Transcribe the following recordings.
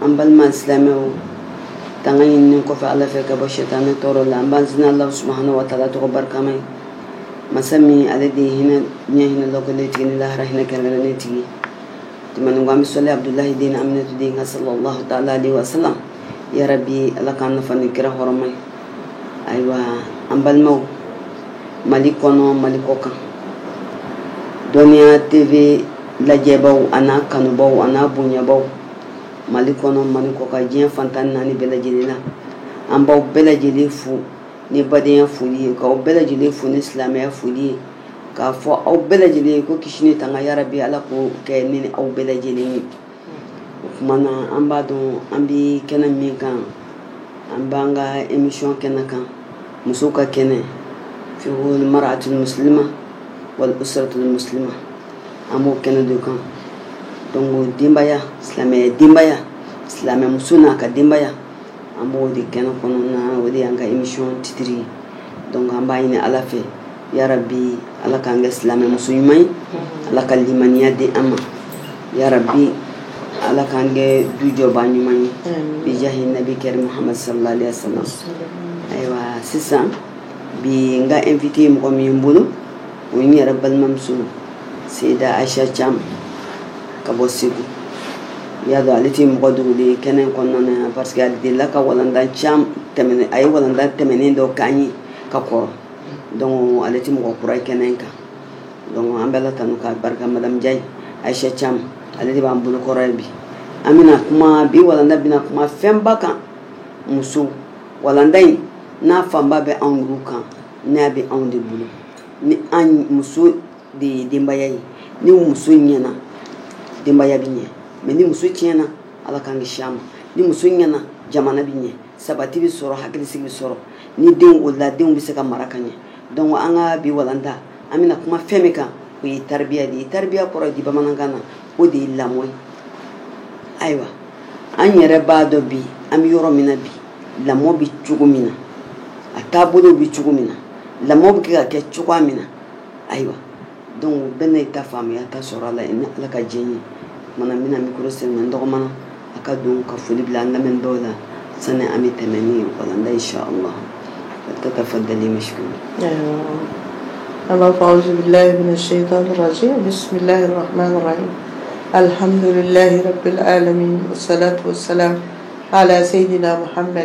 an balima silamɛw tanga ɲinini kɔfɛ ala fɛ ka bɔ sɛtanɛ tɔɔrɔ la an b'an sinna ala subahana wa taala tɔgɔ barikama ye masa min ale de ye hinɛ diɲɛ hinɛ lɔkɔlen tigi ni lahara hinɛ kɛrɛnkɛrɛnnen tigi tɛmɛnen kɔ an bɛ sali abudulahi den aminatu den kan salallahu taala alayhi wa salam yarabi ala k'an nafa ni kira hɔrɔma ye ayiwa an balimaw mali kɔnɔ mali kɔkan dɔnniya tv lajɛbaw an'a kanubaw an'a bonyabaw mali kɔnɔ mali kɔkan diɲɛ fan tan ni naani bɛɛ lajɛlen na an b'aw bɛɛ lajɛlen fo ni badenya foli ye k'aw bɛɛ lajɛlen fo ni silamɛya foli ye k'a fɔ aw bɛɛ lajɛlen ye ko kisi ni tanga yarabi ala k'o kɛ ne ni aw bɛɛ lajɛlen ye o tuma na an b'a dɔn an bɛ kɛnɛ min kan an b'an ka emisɔn kɛnɛ kan musow ka kɛnɛ fiqhul mar'atul muslima wal usratul muslima an b'o kɛnɛ de kan dɔnku denbaya silamɛ denbaya silamɛmuso n'a ka denbaya an b'o de kɛnɛ kɔnɔna o de y'an ka emisɔn titiri ye dɔnku an b'a ɲini ala fɛ ya rabbi ala k'an kɛ silamɛ muso ɲuman ye ala ka limaniya di an ma ya rabbi ala k'an kɛ dujɔba ɲuman ye bijahi nabi karim muhammad sallallahu alaihi wasallam ayiwa sisan bi n ka invité mɔgɔ min ye n bolo o ye n yɛrɛ balimamuso seyida aisha cam ka bɔ segu y'a dɔn ale tɛ mɔgɔ dogolen ye kɛnɛ kɔnɔna na parce que a delila ka walanda caman tɛmɛnen a ye walanda tɛmɛnen dɔ k'an ye ka kɔrɔ dɔnku ale tɛ mɔgɔ kura ye kɛnɛ in kan dɔnku an b'ala tanu ka barika madamu jayi aisha cam ale de b'an bolo kɔrɔ bi an bɛna kuma bi walanda bɛna kuma fɛnba kan muso walanda in n'a fanba bɛ anw de kan n'a bɛ anw de bolo ni an muso de ye denbaya ye ni muso ɲɛna denbaya bɛ ɲɛ mɛ ni muso tiɲɛna ala k'an kisi a ma ni muso ɲɛna jamana bɛ ɲɛ sabati bɛ sɔrɔ hakilisigi bɛ sɔrɔ ni denw o la denw bɛ se ka mara ka ɲɛ dɔnku an ka bi walanda an bɛna kuma fɛn min kan o ye taribiya de ye taribiya kɔrɔ di bamanankan na o de ye lamɔ ye ayiwa an yɛrɛ b'a dɔn bi an bɛ yɔrɔ min na bi lamɔ bɛ cogo min na a taabolo bɛ cogo min na lamɔ bɛ kɛ ka kɛ cogoya min na ayiwa dɔnku bɛɛ na i ta faamuyaya ta sɔrɔ a la i ni ala ka diɲɛ ye mana n bɛna mikoro sen n dɔgɔma a ka don ka foli bila an lamɛn dɔw la sani an bɛ tɛmɛ ni walanda ye sɔ ma ka taa fɔ dalen misi an b'a fɔ aw bilayi minɛ se ka sɔrɔsi bisimila alihamdulilayi yɛrɛ bɛ alami sala sala ala seyi muhami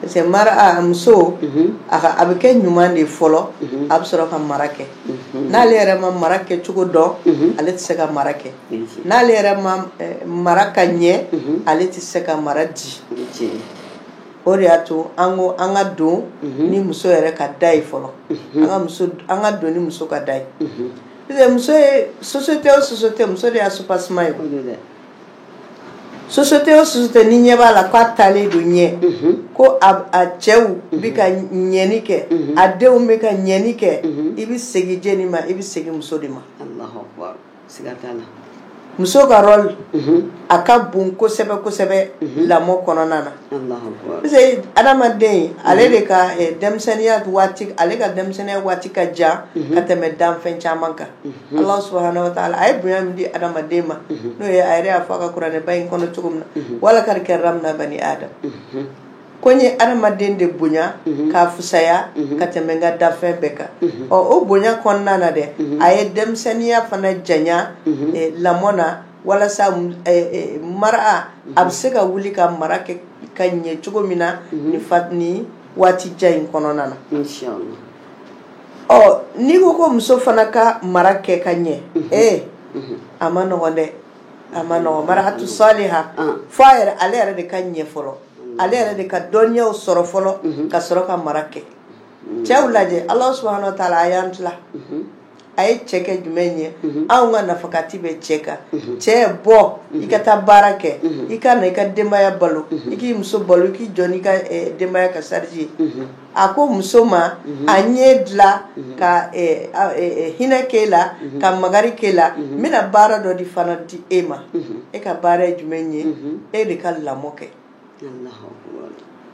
parce que mara a muso a ka a bɛ kɛ ɲuman de ye fɔlɔ a bɛ sɔrɔ ka mara kɛ n'ale yɛrɛ ma mara kɛ cogo dɔn ale tɛ se ka mara kɛ n'ale yɛrɛ ma mara ka ɲɛ ale tɛ se ka mara di o de y'a to an ko an ka don ni muso yɛrɛ ka da ye fɔlɔ an ka don ni muso ka da ye muso ye société o société muso de y'a soubassement ye société o société ni ɲɛ b'a la k'a taalen don ɲɛ ko a cɛw bɛ ka ɲɛni kɛ a denw bɛ ka ɲɛni kɛ i bɛ segin jɛni ma i bɛ segin muso de ma muso ka rôle a ka bon kosɛbɛ kosɛbɛ lamɔ kɔnɔna na parce que adamaden ale de ka denmisɛnninya ale ka denmisɛnninya waati ka jan ka tɛmɛ danfɛn caman kan allahu subhanahu wa ta'ala a ye bonya min di adamaden ma n'o ye a yɛrɛ y'a fɔ a ka kuranɛba in kɔnɔ cogo min na wa lakad karramna bani adam ko n ye adamaden de bonya k'a fisaya ka tɛmɛ n ka danfɛn bɛɛ kan ɔ o bonya kɔnɔna na dɛ a ye denmisɛnninya fana janya lamɔ na walasa mara a bɛ se ka wuli ka mara kɛ ka ɲɛ cogo min na ni waati jan in kɔnɔna na n'i ko ko muso fana ka mara kɛ ka ɲɛ e a man nɔgɔ dɛ a man nɔgɔ mar'atu saliha fo a yɛrɛ ale yɛrɛ de ka ɲɛ fɔlɔ ale yɛrɛ de ka dɔnniyaw sɔrɔ fɔlɔ ka sɔrɔ ka mara kɛ cɛw lajɛ allahu subhanahu wa ta'ala a y'an tila a ye cɛ kɛ jumɛn ye anw ka nafakati bɛ cɛ kan cɛ bɔ i ka taa baara kɛ i ka na i ka denbaya balo i k'i muso balo i k'i jɔ n'i ka denbaya ka charge ye a ko muso ma a y'e dilan ka hinɛ k'e la ka makari k'e la n bɛna baara dɔ de fana di e ma e ka baara ye jumɛn ye e de ka lamɔ kɛ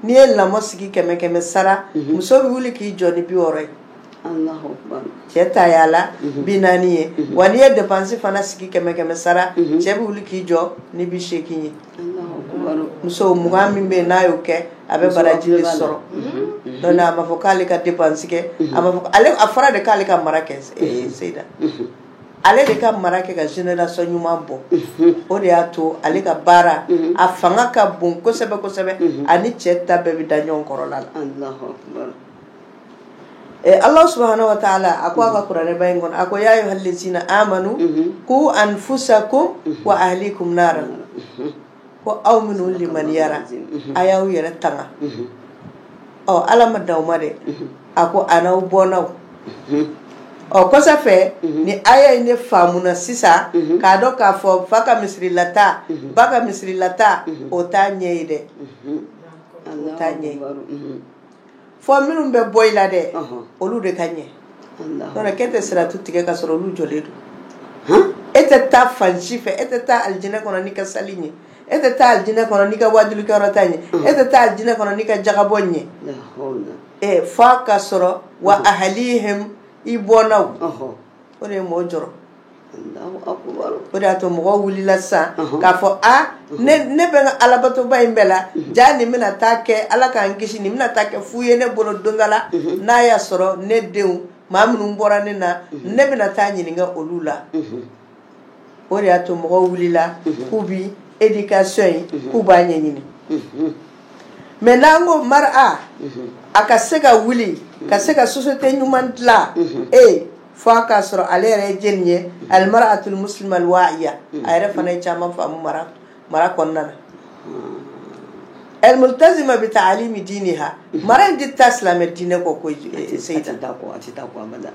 n'i ye lamɔ sigi kɛmɛ kɛmɛ sara muso bɛ wuli k'i jɔ ni bi wɔɔrɔ ye cɛ ta y'a la bi naani ye wa n'i ye dépense fana sigi kɛmɛ kɛmɛ sara cɛ bɛ wuli k'i jɔ ni bi seegin ye muso mugan min bɛ yen n'a y'o kɛ a bɛ baraji de sɔrɔ donc a b'a fɔ k'ale ka dépense kɛ a b'a fɔ a fɔra de k'ale ka mara kɛ seyida ale de ka mara kɛ ka génération ɲuman bɔ o de y'a to ale ka baara a fanga ka bon kosɛbɛ kosɛbɛ ani cɛ ta bɛɛ bɛ da ɲɔgɔn kɔrɔla la allahu subhanahu wa ta'ala a ko a ka kuranɛba in kɔnɔ a ko ya ayyuhallazina amanu ku anfusakum wa ahlikum ko aw minnu limaniyara a y'aw yɛrɛ tanga ɔ ala ma dan o ma dɛ a ko a n'aw bɔnnaw ɔ kɔsa fɛ ni aya in ne faamuna sisan k'a dɔn k'a fɔ fa ka misirilata ba ka misirilata o t'a ɲɛ ye dɛ o t'a ɲɛ ye fo minnu bɛ bɔ i la dɛ olu de ka ɲɛ donc k'e tɛ siratu tigɛ ka sɔrɔ olu jɔlen don e tɛ taa fansi fɛ e tɛ taa alijinɛ kɔnɔ n'i ka sali ye e tɛ taa alijinɛ kɔnɔ n'i ka wajulikɛyɔrɔta ye e tɛ taa alijinɛ kɔnɔ n'i ka jagabɔ ye fo ka sɔrɔ wa ahlihim i bɔnnaw o de ye mɔgɔ jɔrɔ O de y'a to mɔgɔw wulila sisan k'a fɔ ne bɛ n ka alabatoba in bɛɛ la ja nin bɛna taa kɛ ala k'an kisi nin bɛna taa kɛ fu ye ne bolo don dɔ la n'a y'a sɔrɔ ne denw maa minnu bɔra ne na ne bɛna taa ɲininka olu la o de y'a to mɔgɔw wulila k'u bɛ éducation in k'u b'a ɲɛɲini mais n'an ko mara a ka se ka wuli ka se ka société ɲuman dilan e fo a k'a sɔrɔ ale yɛrɛ ye jeni ye almar'atul muslima alwa'iya a yɛrɛ fana ye caman faamu mara mara kɔnɔna na al multazima bi ta'alimi diniha mara in tɛ taa silamɛ diinɛ kɔ ko seyida ko a tɛ taa a kɔ abada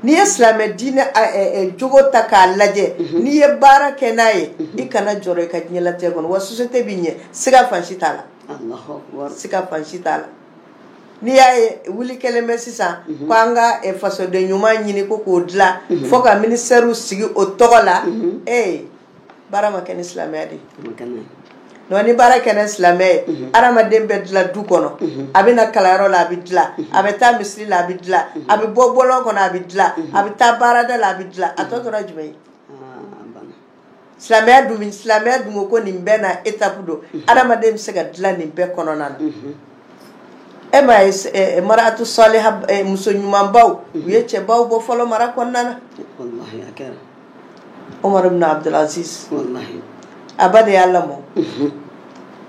n'i ye silamɛ diinɛ jogo ta k'a lajɛ n'i ye baara kɛ n'a ye i kana jɔrɔ i ka diɲɛlatigɛ kɔnɔ wa société bɛ ɲɛ siga fansi t'a la siga fansi t'a la n'i y'a ye wuli kɛlen bɛ sisan ko an ka fasoden ɲuman ɲini ko k'o dilan fo ka ministère sigi o tɔgɔ la e baara ma kɛ ni silamɛya de don ni baara kɛ ni silamɛya ye adamaden bɛ dilan du kɔnɔ a bɛ na kalanyɔrɔ la a bɛ dilan a bɛ taa misiri la a bɛ dilan a bɛ bɔ bɔlɔn kɔnɔ a bɛ dilan a bɛ taa baarada la a bɛ dilan a tɔ tora jumɛn ye silamɛya dun min silamɛya dun ko ko nin bɛɛ na étape don mhm. adamaden bɛ se ka dilan nin bɛɛ kɔnɔna na mhm. e m'a ye eh, eh, mar'atu saliha eh, muso ɲumanbaw mhm. u ye cɛbaw bɔ fɔlɔ mara kɔnɔna na Omar ibn Abdul Aziz a ba de y'a lamɔ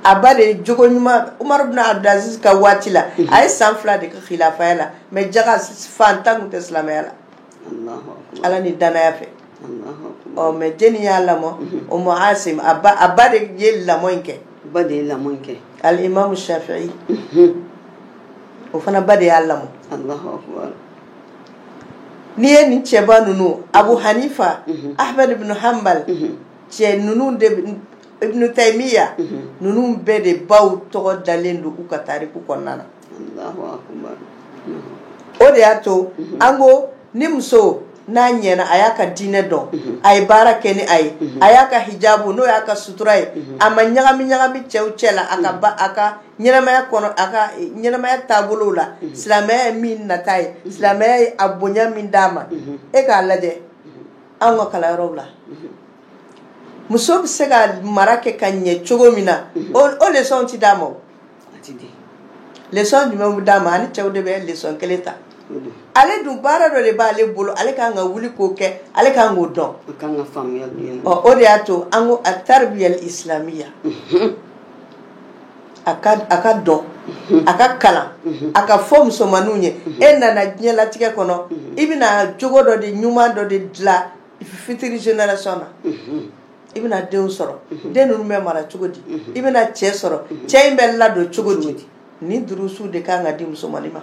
a ba de ye jogo ɲuman Omar ibn Abdul Aziz ka waati la a ye san fila de kɛ khilafaya la mais jaga fantan tun tɛ silamɛya la ala ni danaya fɛ ɔ mais jeni y'a lamɔ mhm. umu asim a ba de ye lamɔ in kɛ ba de ye lamɔ in kɛ alimamu shafi'i mhm. o fana ba de y'a lamɔ n'i ye nin cɛba ninnu abu hanifa mhm. ahmad ibn hanbal cɛ ninnu de ibn taymiya ninnu bɛɛ de baw tɔgɔ dalen don u ka tariku kɔnɔna na o de y'a to an ko ni muso n'a ɲɛna a y'a ka diinɛ dɔn a ye baara kɛ ni a ye a y'a ka hijabu n'o y'a ka sutura ye a ma ɲagami ɲagami cɛw cɛ la a ka ɲɛnamaya kɔnɔ a ka ɲɛnamaya taabolo la silamɛya ye min nata ye silamɛya ye a bonya min d'a ma e k'a lajɛ an ka kalanyɔrɔw la muso bɛ se ka mara kɛ ka ɲɛ cogo min na o leçon tɛ d'a ma leçon jumɛn bɛ d'a ma ani cɛw de bɛ leçon kelen ta ale dun baara dɔ de b'ale bolo ale kan ka wuli k'o kɛ ale kan k'o dɔn o de y'a to an ko at-tarbiyya al-islamiyya a ka dɔn a ka kalan a ka fɔ musomanninw ye e nana diɲɛlatigɛ kɔnɔ i bɛna jogo dɔ de ɲuman dɔ de dilan fitiri génération na i bɛna denw sɔrɔ den ninnu bɛ mara cogo di i bɛna cɛ sɔrɔ cɛ in bɛ ladon cogo di ni durusuw de ka kan ka di musomannin ma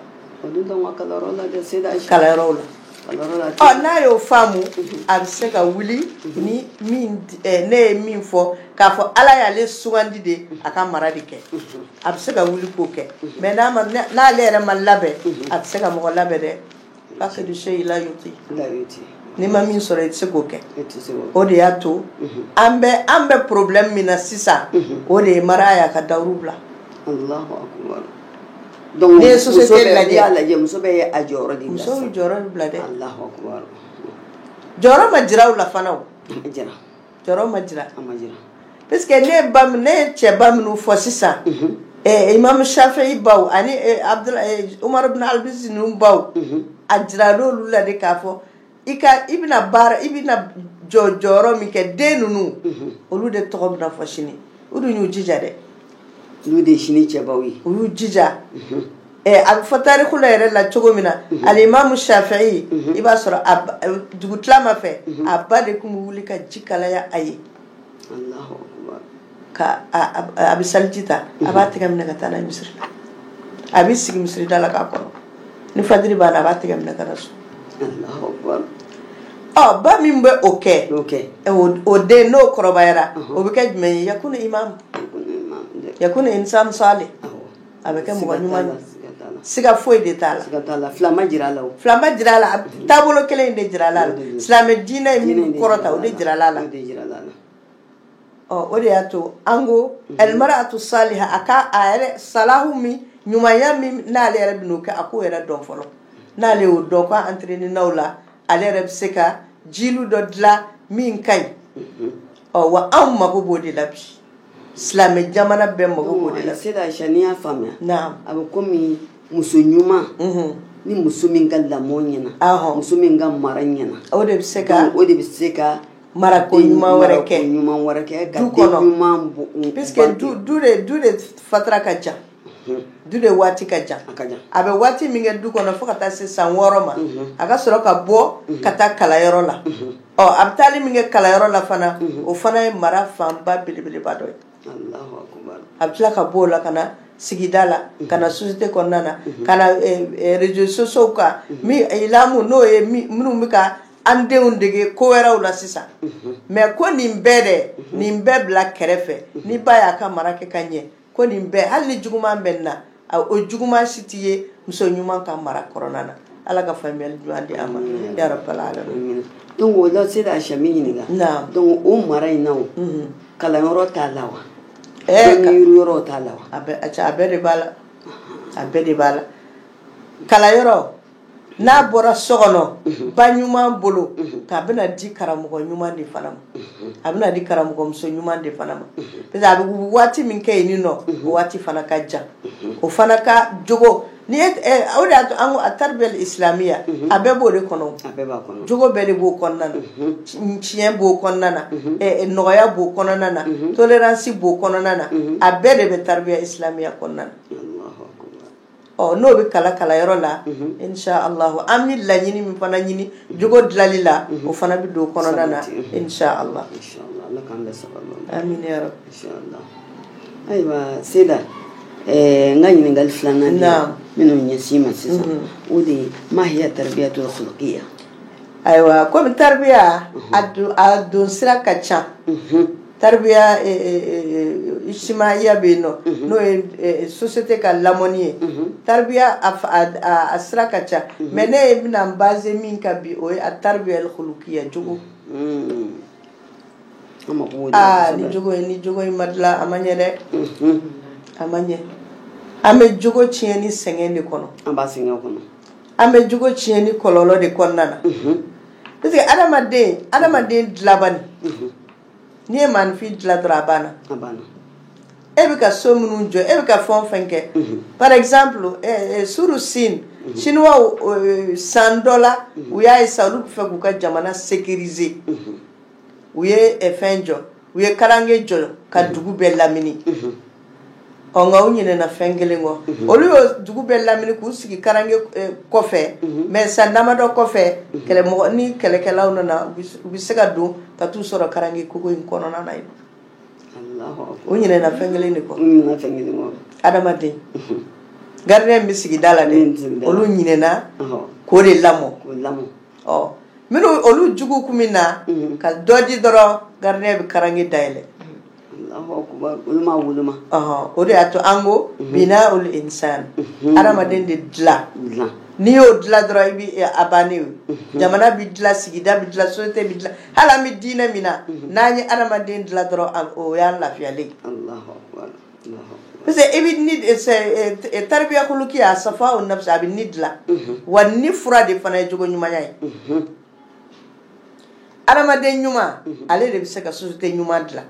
kalanyɔrɔ la n'a y'o faamu a bɛ se ka wuli ni ne ye min fɔ k'a fɔ ala y'ale sugandi de a ka mara de kɛ a bɛ se ka wuli k'o kɛ mais n'ale yɛrɛ ma labɛn a tɛ se ka mɔgɔ labɛn dɛ Parce que faqidu shay'i la yu'ti la yu'ti n'i ma min sɔrɔ i tɛ se k'o kɛ o de y'a to an bɛ an bɛ problème min na sisan o de ye mara y'a ka dawuru bila donc ni société lajɛ muso bɛ a jɔyɔrɔ de muso jɔyɔrɔ bila dɛ jɔyɔrɔ ma jira u la fana jɛra Jɔyɔrɔ ma jira a ma jira parce que ne ye cɛba minnu fɔ sisan imamu Shafi'i baw ani Umar bin al-Aziz ninnu baw a jirala olu la de k'a fɔ i ka i bɛna baara i bɛna jɔ jɔyɔrɔ min kɛ den ninnu olu de tɔgɔ bɛna fɔ sini u dun y'u jija dɛ olu de ye sini cɛbaw ye u y'u jija a bɛ fɔ tariku la yɛrɛ la cogo min na alimamu Shafi'i i b'a sɔrɔ dugutilama fɛ a ba de tun bɛ wuli ka ji kalaya a ye ka a bɛ seliji ta a b'a tɛgɛ minɛ ka taa n'a ye misiri la a bɛ sigi misiri da la k'a kɔnɔ ni fajiri banna a b'a tigɛ minɛ ka na so Alahu akibaru. ɔ ba min bɛ o kɛ N'o kɛ. ɛ, o- o den n'o kɔrɔbayara o bɛ kɛ jumɛn ye yakunu imam Ko ne ma dɛ. yakunu insan salih Awɔ. a bɛ kɛ mɔgɔ Siga t'a ɲuman la, ye siga t'a la. siga foyi de t'a la Siga t'a la. Fila ma jira a la o. fila ma jira a la a- taabolo kelen in de jira a la Diinɛ in de silamɛ diinɛ ye min jira a la. kɔrɔta o de jira a la O de jira a la. o de y'a to an ko al-mar'atu saliha a yɛrɛ salahu min ɲumanya min n'ale yɛrɛ bɛ n'o kɛ a k'o yɛrɛ dɔn fɔlɔ n'ale y'o dɔn ko entraîner n'aw la ale yɛrɛ bɛ se ka jilu dɔ dilan min ka ɲi ɔ wa anw mago b'o de la bi silamɛ jamana bɛɛ mako b'o de la seyida n y'a faamuya a bɛ komi muso ɲuman ni muso min ka lamɔ ɲɛna muso min ka mara ɲɛna o de bɛ se ka o de bɛ se ka mara ko ɲuman wɛrɛ kɛ du kɔnɔ puisque du de fatara ka jan du de waati ka jan a bɛ waati min kɛ du kɔnɔ fo ka taa se san wɔɔrɔ ma a ka sɔrɔ ka bɔ ka taa kalanyɔrɔ la ɔ a bɛ taali min kɛ kalanyɔrɔ la fana o fana ye mara fanba belebeleba dɔ ye a bɛ tila ka bɔ o la ka na sigida la ka na société kɔnɔna na ka na réseaux sociaux kan ilamu n'o ye minnu bɛ ka an denw dege ko wɛrɛw la sisan mais ko nin bɛɛ dɛ nin bɛɛ bila kɛrɛfɛ ni ba y'a ka mara kɛ ka ɲɛ ko nin bɛɛ hali ni juguman bɛ na o juguman si tɛ ye muso ɲuman ka mara kɔnɔna na ala ka faamuyali di an ma ya rabbal alamin donc o la seyida sa n b'i ɲininka donc o mara in na kalanyɔrɔ t'a la wa ɛɛ ka yɔrɔ t'a la wa a bɛɛ de b'a la a bɛɛ de b'a la kalanyɔrɔ n'a bɔra so kɔnɔ ba ɲuman bolo k'a bɛna di karamɔgɔ ɲuman de fana ma a bɛna di karamɔgɔmuso ɲuman de fana ma parce que a bɛ waati min kɛ yen nɔ o waati fana ka jan o fana ka jogo ni de at-tarbiya al-islamiya a bɛɛ b'o de kɔnɔ jogo bɛɛ de b'o kɔnɔna na tiɲɛ b'o kɔnɔna na nɔgɔya b'o kɔnɔna na tolérance b'o kɔnɔna na a bɛɛ de bɛ tarbiya islamiya kɔnɔna na ɔ n'o bɛ kalan kalanyɔrɔ la inshallahu an bɛ laɲini min fana ɲini jogo dilanli la o fana bɛ don kɔnɔna na inshallah ayiwa seyida ɛɛ n ka ɲininkali filanan na minnu ɲɛsin i ma sisan o de ye ma hiya tarbiyatul khuluqiya ayiwa komi tarbiya a don sira ka ca Tarbiya ijtimaiya bɛ yen n'o ye société ka lamɔni ye tarbiya a sira ka ca mais ne yɛrɛ bɛna basé min kan bi o at-tarbiya al-khuluqiya jogo aa ni ni jogo in ma dilan a ma ɲɛ dɛ a ma ɲɛ an bɛ jogo tiɲɛni sɛgɛn de kɔnɔ an bɛ jogo tiɲɛni kɔlɔlɔ de kɔnɔna na parce que adamaden adamaden dilabani n'i ye maanifin dila dɔrɔn a banna e bɛ ka so minnu jɔ e bɛ ka fɛn o fɛn kɛ par exemple eh, eh, suru sin chinois eh, san dɔ la u y'a ye sa olu bɛ fɛ k'u ka jamana sécuriser u ye fɛn jɔ u ye karange jɔ ka dugu bɛɛ lamini ɔ nka u ɲinɛna fɛn kelen kɔ olu y'o dugu bɛɛ lamini k'u sigi karange eh, kɔfɛ mais san damadɔ kɔfɛ kɛlɛmɔgɔ ni kɛlɛkɛlaw nana u bɛ- u bɛ se ka don ka t'u sɔrɔ karange kogo in kɔnɔna na yen Alahu akbar. u ɲinɛna fɛn kelen de kɔ U ɲinɛna fɛn kelen kɔ. adamaden gardien bɛ sigi da la Min bɛ sigi da la. olu ɲinɛna Ɔhɔ, k'o de lamɔ k'o lamɔ. ɔ minnu olu jugu kun bɛ na Mhm. ka dɔ di dɔrɔn gardien bɛ karange dayɛlɛ O de y'a to an ko bina ul insan adamaden de dila n'i y'o dila dɔrɔn i bɛ a bannen jamana bɛ dila sigida bɛ dila société bɛ dila hali an bɛ diinɛ min na n'an ye adamaden dila dɔrɔn o y'an lafiyalen ye parce que i bɛ ni taribiya khuluqiya safa u nafsi a bɛ ni dila wa ni fura de fana ye jogo ɲumanya ye adamaden ɲuman mhm. ale de bɛ se ka société ɲuman dila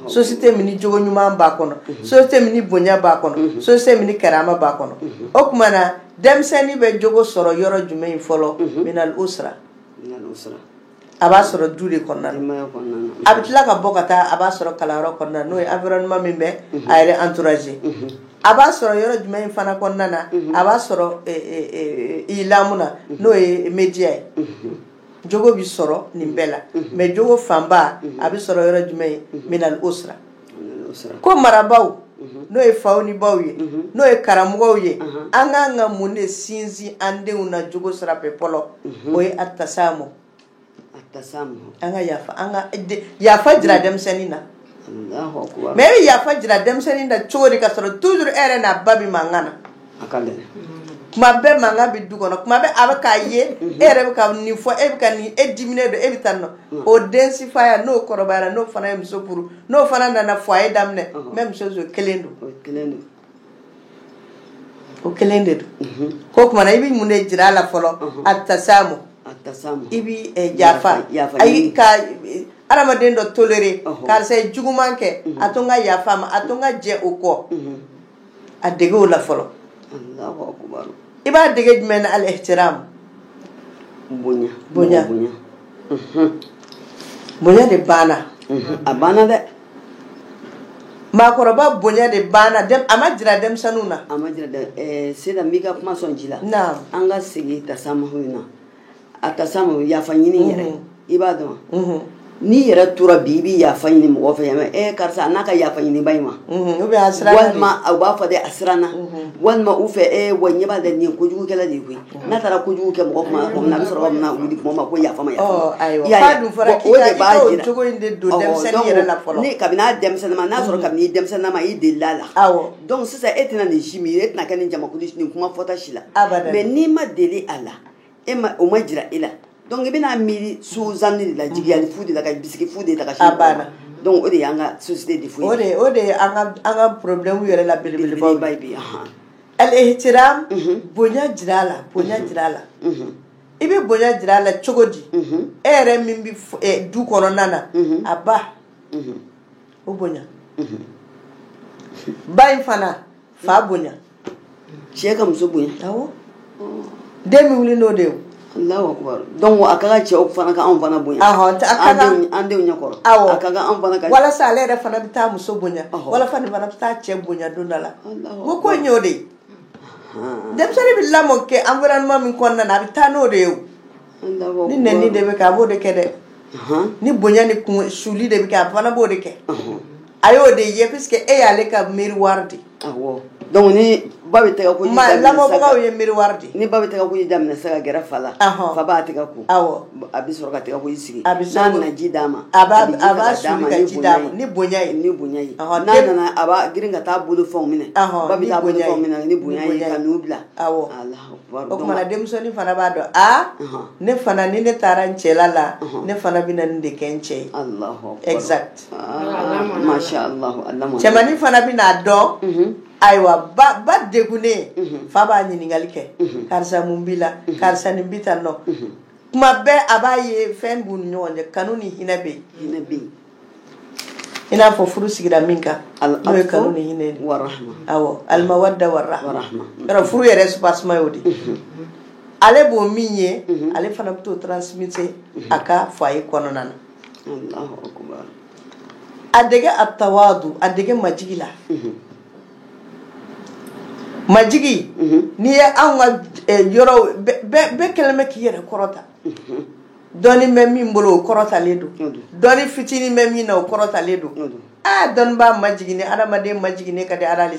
société mini jogo ɲuman b'a kɔnɔ mhm. société mini bonya b'a kɔnɔ mhm. société mini karama b'a kɔnɔ o tuma na denmisɛnnin bɛ jogo sɔrɔ yɔrɔ jumɛn in fɔlɔ minal usra a b'a sɔrɔ du de kɔnɔna na a bɛ tila ka bɔ ka taa a b'a sɔrɔ kalanyɔrɔ kɔnɔna n'o ye environnement min bɛ a yɛrɛ entourager a b'a sɔrɔ yɔrɔ jumɛn in fana kɔnɔna na a b'a sɔrɔ ilamu na n'o ye média ye jogo bɛ sɔrɔ nin bɛɛ la mais jogo fanba a bɛ sɔrɔ yɔrɔ jumɛn ye minal usra ko marabagaw n'o ye faw ni baw ye n'o ye karamɔgɔw ye an k'an ka mun de sinsin an denw na jogo sira fɛ fɔlɔ o ye atasamu an ka yafa an ka yafa jira denmisɛnnin na mais e bɛ yafa jira denmisɛnnin na cogo di ka sɔrɔ toujours e yɛrɛ n'a ba bɛ mankan na a ka gɛlɛn kuma bɛɛ mankan bɛ du kɔnɔ kuma bɛɛ a bɛ k'a ye e yɛrɛ bɛ ka nin fɔ e bɛ ka nin e diminen don e bɛ taa nɔ o den sifaya n'o kɔrɔbayara n'o fana ye muso furu n'o fana nana foyer daminɛ même chose o kelen don o kelen de don ko tuma na i bɛ mun de jira a la fɔlɔ atasamu i bɛ yafa ayi ka adamaden dɔ tolérer karisa ye juguman kɛ a to n ka yafa a ma a to n ka jɛ o kɔ a dege o la fɔlɔ i b'a dege jumɛn na al ihtiram bonya bonya bonya de banna a banna dɛ Mɔgɔkɔrɔba bonya de banna a ma jira denmisɛnnin na a ma sisan n b'i ka kuma sɔn ji la an ka segin tasamuhu in na a tasamuhu yafa ɲini yɛrɛ i b'a dɔn n'i yɛrɛ tora bi i bɛ yafa ɲini mɔgɔ fɛ yan e karisa a n'a ka yafa ɲini ba in ma walima u b'a fɔ de a siranna walima u fɛ e wa ɲɛ b'a de nin ye kojugukɛla de koyi n'a taara kojugu kɛ mɔgɔ kuma ko na bɛ sɔrɔ min wuli kuma ma ko yafa ma kabini a denmisɛnninma n'a sɔrɔ kabini i denmisɛnninma i delila a la donc sisan e tɛna nin si min e tɛna kɛ nin jamakulu nin kuma fɔta si la mais n'i ma deli a la e o ma jira e la Donc i bɛna miiri suzanni de la jigiyali fu de la ka bisigi fu de ta ka sin a banna donc o de y'an ka société défaut ye o de o de ye an ka an ka problème yɛrɛ la belebelebaw belebeleba ye bi anhan al-ihtiram unhun bonya jira a la bonya jira a la unhun i bɛ bonya jira a la cogo di unhun e yɛrɛ min bɛ f- eh, du kɔnɔna na Mhm. a ba unhun o bonya unhun ba in fana fa bonya cɛ ka muso bonya awɔ den bɛ wuli n'o de ye Allahu akbar donc a ka kan cɛw fana ka anw fana bonya ahɔ a ka kan an denw ɲɛkɔrɔ awɔ a ka kan anw fana ka walasa ale yɛrɛ fana bɛ taa muso bonya walasa nin fana bɛ taa cɛ bonya don dɔ la ko ko in y'o de ye denmisɛnnin bɛ lamɔ kɛ environnement min kɔnɔna na a bɛ taa n'o de ye o ni nɛni de bɛ kɛ a b'o de kɛ dɛ ni bonya ni kun suli de bɛ kɛ a fana b'o de kɛ A y'o de ye puisque e y'ale ka miroir de donc ba bɛ tɛgɛ ko lamɔbagaw ye miroir de ni ba bɛ tɛgɛ ko ji daminɛ sa ka gɛrɛ fa la fa b'a tɛgɛ ko aw a bɛ sɔrɔ ka tɛgɛ ko ji sigi n'a nana ji d'a ma a b'a suli ka ji d'a ma ni bonya ye ni bonya ye n'a nana a b'a girin ka taa bolofɛnw minɛ ba bɛ taa bolofɛnw minɛ ni bonya ye ka n'u bila aw o tuma na denmisɛnnin fana b'a dɔn aa ne fana ni ne taara n cɛla la ne fana bɛna nin de kɛ n cɛ ye exact Cɛmannin fana bɛna dɔn ayiwa ba degunnen fa b'a ɲininkali kɛ karisa mun b'i la karisa ni bi tan dɔn kuma bɛɛ a b'a ye fɛn b'u ni ɲɔgɔn cɛ kanu ni hinɛ bɛ yen i n'a fɔ furu sigira min kan n'o ye kanu ni hinɛ al-mawadda warahma furu yɛrɛ soubassement y'o de ale b'o min ye ale fana bɛ t'o transmettre a ka foyer kɔnɔna na a dege at-tawadu a dege majigi la majigi n'i ye anw ka eh, yɔrɔw bɛɛ kɛlen bɛ k'i yɛrɛ kɔrɔta dɔnni bɛ min bolo o kɔrɔtalen don dɔnni fitinin bɛ min na o kɔrɔtalen don aa dɔnnibaa majiginnen adamaden majiginnen ka di Ala ye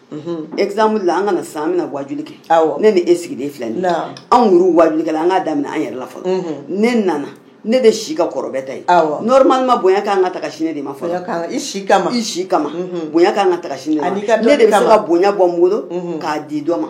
exemple la an ka na sisan an bɛna wajuli kɛ ne ni e sigilen filɛ nin anw yɛrɛ wajulikɛla an k'a daminɛ an yɛrɛ la fɔlɔ ne nana ne de si ka kɔrɔ bɛɛ ta ye normalement bonya kan ka ta ka sin ne de ma fɔlɔ i si kama i si kama bonya kan ka ta ka sin ne de ma ne de bɛ se ka bonya bɔ n bolo k'a di dɔ ma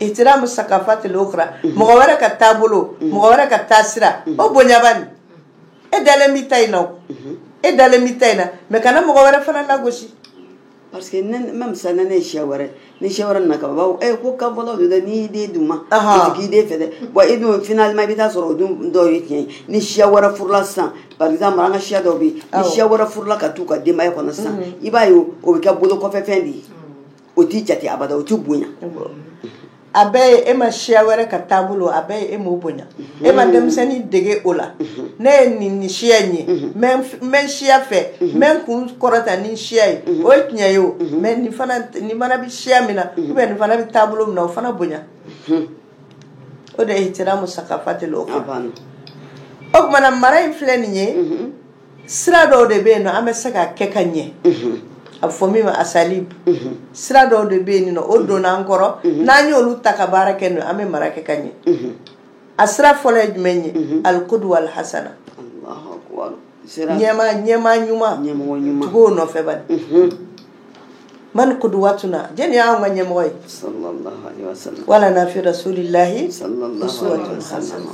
ihtiramu sakafatil ukhra mɔgɔ wɛrɛ ka taabolo mɔgɔ wɛrɛ ka taasira o bonya bani e dalen b'i ta in na e dalen b'i ta in na mais kana mɔgɔ wɛrɛ fana lagosi parce que même ça ne ye siya wɛrɛ ni siya wɛrɛ nana kababaw e ko ka bɔlaw de dɛ n'i den d'u ma i t'i den fɛ dɛ bon e dun finalement i bɛ taa sɔrɔ o dun dɔw ye tiɲɛ ye ni siya wɛrɛ furula sisan par exemple an ka siya dɔw bɛ yen ni siya wɛrɛ furula ka t'u ka denbaya kɔnɔ sisan i b'a ye o bɛ kɛ bolo kɔfɛ fɛn de ye o t'i jate abada o t'i bonya a bɛɛ ye e ma siya wɛrɛ ka taabolo a bɛɛ ye e m'o bonya e ma denmisɛnnin dege o la ne ye nin nin siya in ye n bɛ siya fɛ n bɛ n kun kɔrɔta ni siya ye o ye tiɲɛ ye o mais nin fana bɛ siya min na ou bien nin fana bɛ taabolo min na o fana bonya o de ye ihtiramu sakafatil ukhra o tuma na mara in filɛ nin ye sira dɔw de bɛ yen an bɛ se ka kɛ ka ɲɛ a fɔ min ma asalib sira dɔw de bɛ yen o donna an kɔrɔ n'an y'olu ta ka baara kɛ n'o an bɛ mara kɛ ka ɲɛ a sira fɔlɔ ye jumɛn ye alikuduwa alihasana ɲɛmaa ɲuman tugu o nɔfɛ man kuduwatuna jɛni y'an ka ɲɛmɔgɔ ye walana fi rasulillahi uswatun hasana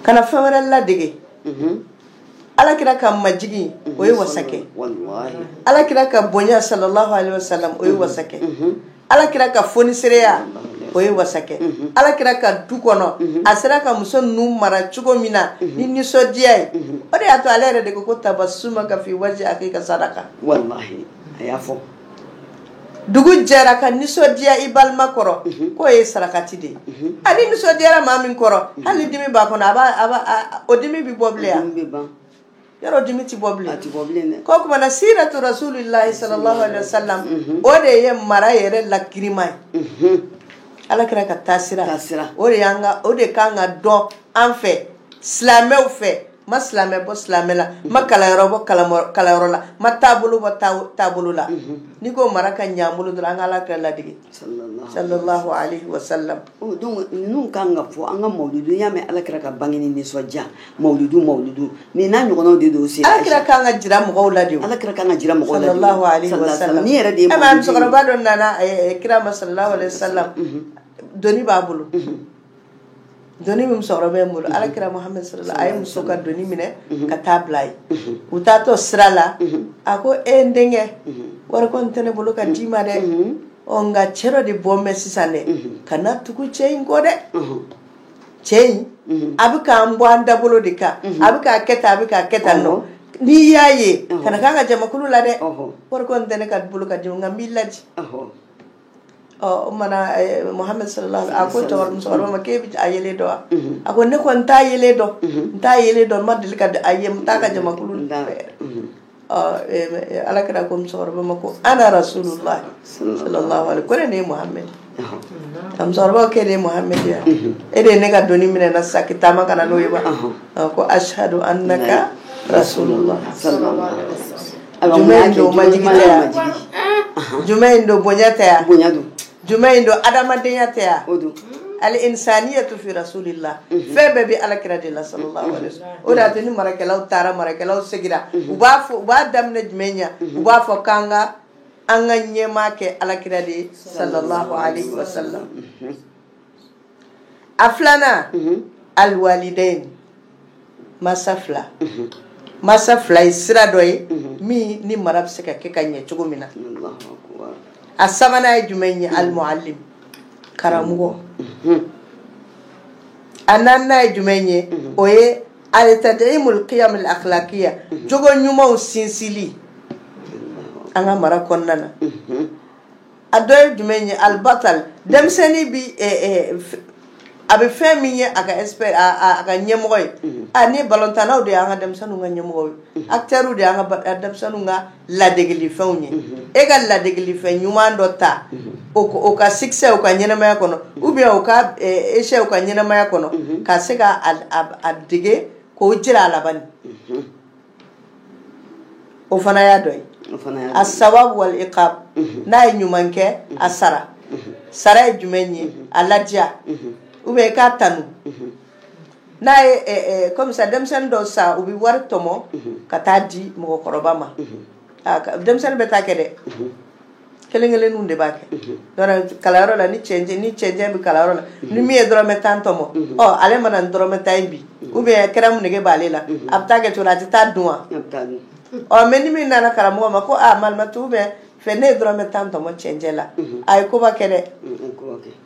kana fɛn wɛrɛ ladege mhm. ala kira ka majigi o ye wasakɛ ala kira ka bonya sallallahu alaihi wasallam o ye mhm. wasakɛ mhm. ala kira ka fonisereya o ye wasa kɛ ala kira ka du kɔnɔ a sera ka muso nu mara cogo min na ni nisɔndiya ye o de y'a to ale yɛrɛ de ko ko tabasumaka fi waji akika sadaka a y'a fɔ dugu jɛra ka nisɔndiya i balima kɔrɔ k'o ye sarakati de ye a n'i nisɔndiyara maa min kɔrɔ hali dimi b'a kɔnɔ a o dimi bɛ bɔ bilen yan yɔrɔ dimi tɛ bɔ bilen a tɛ bɔ bilen dɛ ko tuma na siratu rasulillahi sallallahu alaihi wasallam mhm. o de ye mara yɛrɛ lakirima ye mhm. ala kira ka taasira taasira o de y'an ka o de kan ka dɔn an fɛ silamɛw fɛ ma silamɛ bɔ silamɛ la mhm. ma kalanyɔrɔ bɔ kalanyɔrɔ la ma taabolo bɔ taabolo la n'i ko mara ka ɲɛ an bolo dɔrɔn an ka ala kira ladege sallallahu alaihi wa sallam donc ninnu kan ka fɔ an ka mawuludu y'a mɛn ala kira ka bange ni nisɔndiya mawuludu mawuludu nin n'a ɲɔgɔnnaw de don sa ala kira kan ka jira mɔgɔw la de ala kira kan ka jira mɔgɔw la sallallahu alaihi wa sallam nin yɛrɛ de ye musokɔrɔba dɔ nana kira ma sallallahu alaihi wa sallam doni b'a bolo doni min musokɔrɔba in bolo alakira muhammed sallallahu a ye muso ka doni minɛ ka taa bila ye u taatɔ sira la a ko e n denkɛ wari kɔni tɛ ne bolo ka d'i ma dɛ ɔ nka cɛ dɔ de bɔ mɛn sisan dɛ kana tugu cɛ in kɔ dɛ cɛ in a bɛ k'an bɔ an dabolo de kan a bɛ k'a kɛ tan a bɛ k'a kɛ tan nɔ n'i y'a ye kana k'a ka jamakulu la dɛ wari kɔni tɛ ne ka bolo ka d'i ma nka n b'i laji ɔ o tuma na muhammed sallallahu a ko musokɔrɔba ma k'e bɛ a yelen dɔn wa mhm. a ko ne kɔni n t'a yelen dɔn mhm. n t'a yelen dɔn n ma deli ka a ye n t'a ka jamakulu la mhm. ɔ alakira ko musokɔrɔba ma ko ana rasulullah sallallahu alaihi ko ne de ye muhammed ye musokɔrɔba k'e de ye muhammed ye wa e de ye ne ka doni minɛ n na sisan k'i taama ka na n'o ye wa ko ashhadu annaka rasulullah sallallahu alaihi wa sallam jumɛn in don majigi tɛ yan jumɛn in don bonya tɛ yan bonya don jumɛn in don adamadenya tɛ yan o don al insaniyatu fi rasulillah mhm. fɛn bɛɛ bɛ alakira de la sallallahu alaihi wasallam o de y'a to ni marakɛlaw taara marakɛlaw segira mhm. u b'a fɔ u b'a daminɛ jumɛn na mhm. u b'a fɔ k'an ka an ka ɲɛmaa kɛ alakira de ye sallallahu alaihi wasallam a filanan alwalidain masa fila masa fila ye sira dɔ ye min ni mara bɛ se ka kɛ ka ɲɛ cogo min na a sabanan ye jumɛn ye almuallim karamɔgɔ a naaninan ye jumɛn ye o ye altadimul qiyam al akhlaqiya jogo ɲumanw sinsinli an ka mara kɔnɔna na a dɔ ye jumɛn ye albatal denmisɛnnin bi a bɛ fɛn min ye a ka a ka ɲɛmɔgɔ ye a ni balontannaw de y'an ka denmisɛnninw ka ɲɛmɔgɔ ye acteurs de y'an ka denmisɛnninw ka ladegeli fɛnw ye e ka ladegeli fɛn ɲuman dɔ ta o ka succès o ka ɲɛnamaya kɔnɔ ou bien o ka échec o ka ɲɛnamaya kɔnɔ ka se k'a dege k'o jira a laban o fana y'a dɔ ye assawab wal iqab n'a ye ɲuman kɛ a sara sara ye jumɛn ye a ladiya ou bien k'a tanu n'a ye comme ça denmisɛnnin dɔw sa u bɛ wari tɔmɔ ka taa di mɔgɔkɔrɔba ma denmisɛnnin bɛɛ t'a kɛ dɛ kelen kelenninw de b'a kɛ donc kalanyɔrɔ la ni cɛncɛn ni cɛncɛn bɛ kalanyɔrɔ la ni min ye dɔrɔmɛ tan tɔmɔ ɔ ale mana ni dɔrɔmɛ tan ye bi ou bien kɛrɛmu nege b'ale la a bɛ taa kɛ cogo di a tɛ taa dun wa ɔ mais ni min nana karamɔgɔ ma ko a malimatu ou bien fɛ ne ye dɔrɔmɛ tan tɔmɔ cɛncɛn la a ye koba kɛ dɛ